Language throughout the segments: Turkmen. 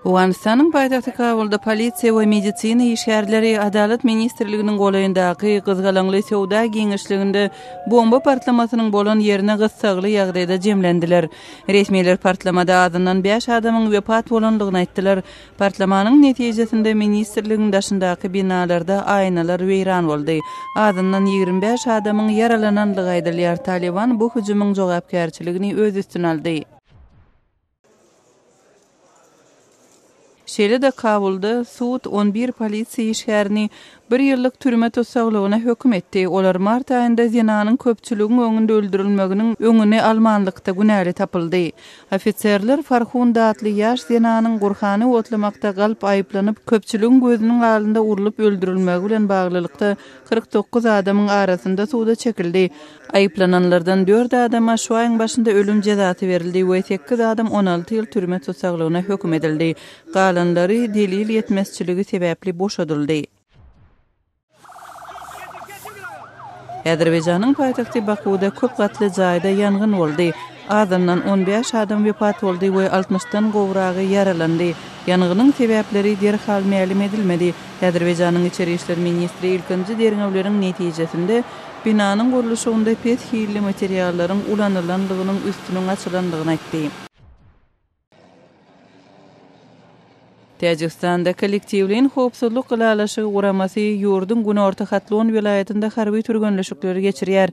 Owganystanyň paýtagty Kabulda polisiýa we medisina işgärleri Adalat ministrliginiň golaýyndaky gyzgalaňly söwda giňişliginde bomba partlamasynyň bolan ýerine gyssagly ýagdaýda jemlendiler. Resmiler partlamada azyndan bäş adamyň wepat bolandygyny aýtdylar. Partlamanyň netijesinde ministrligiň daşyndaky binalarda aýnalar weýran boldy. Azyndan ýigrimi bäş adamyň ýaralanandygy aýdylýar. Talyban bu hüjümiň jogapkärçiligini öz üstüne aldy. Şeýle-de Kabulda sud on bir polisiýa işgärini bir ýyllyk türme tussaglygyna höküm etdi. Olar mart aýynda zenanyň köpçüligiň öňünde öldürilmeginiň öňüni almanlykda günäli tapyldy. Ofiserler Farhunda atly ýaş zenanyň Gurhany otlamakda galp aýyplanyp, köpçüligiň gözüniň alynda urlup öldürilmegi bilen baglylykda kyrk dokuz adamyň arasynda suda çekildi. Aýyplananlardan dört adama şu aýyň başynda ölüm jezasy berildi we sekiz adam on alty ýyl türme tussaglygyna höküm edildi. Galanlary delil ýetmezçiligi sebäpli boşadyldy. Azerbaýjanyň paýtagty Bakuwda köp gatly jaýda ýangyn boldy. Azyndan on bäş adam wepat boldy we altmyşdan gowragy ýaralandy. Ýangynyň sebäpleri derhal mälim edilmedi. Azerbaýjanyň içeri işler ministri ilkinji derňewleriň netijesinde binanyň gurluşygynda pes hilli materiallaryň ulanylandygynyň üstüniň açylandygyny aýtdy. Täjigistanda Kollektiwleýin howpsuzlyk ylalaşygy guramasy ýurduň günorta Hatlon welaýatynda harby türgenleşikleri geçirýär.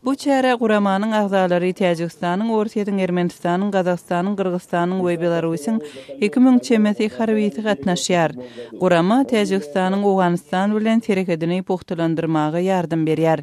Bu çärä guramanyň agzalary Täjigistanyň, Orsýetiň, Ermenistanyň, Gazagystanyň, Gyrgyzystanyň we Belarusyň iki müň çemesi harbysy gatnaşýar. Gurama Täjigistanyň Owganystan bilen serhedini pugtalandyrmaga ýardam berýär.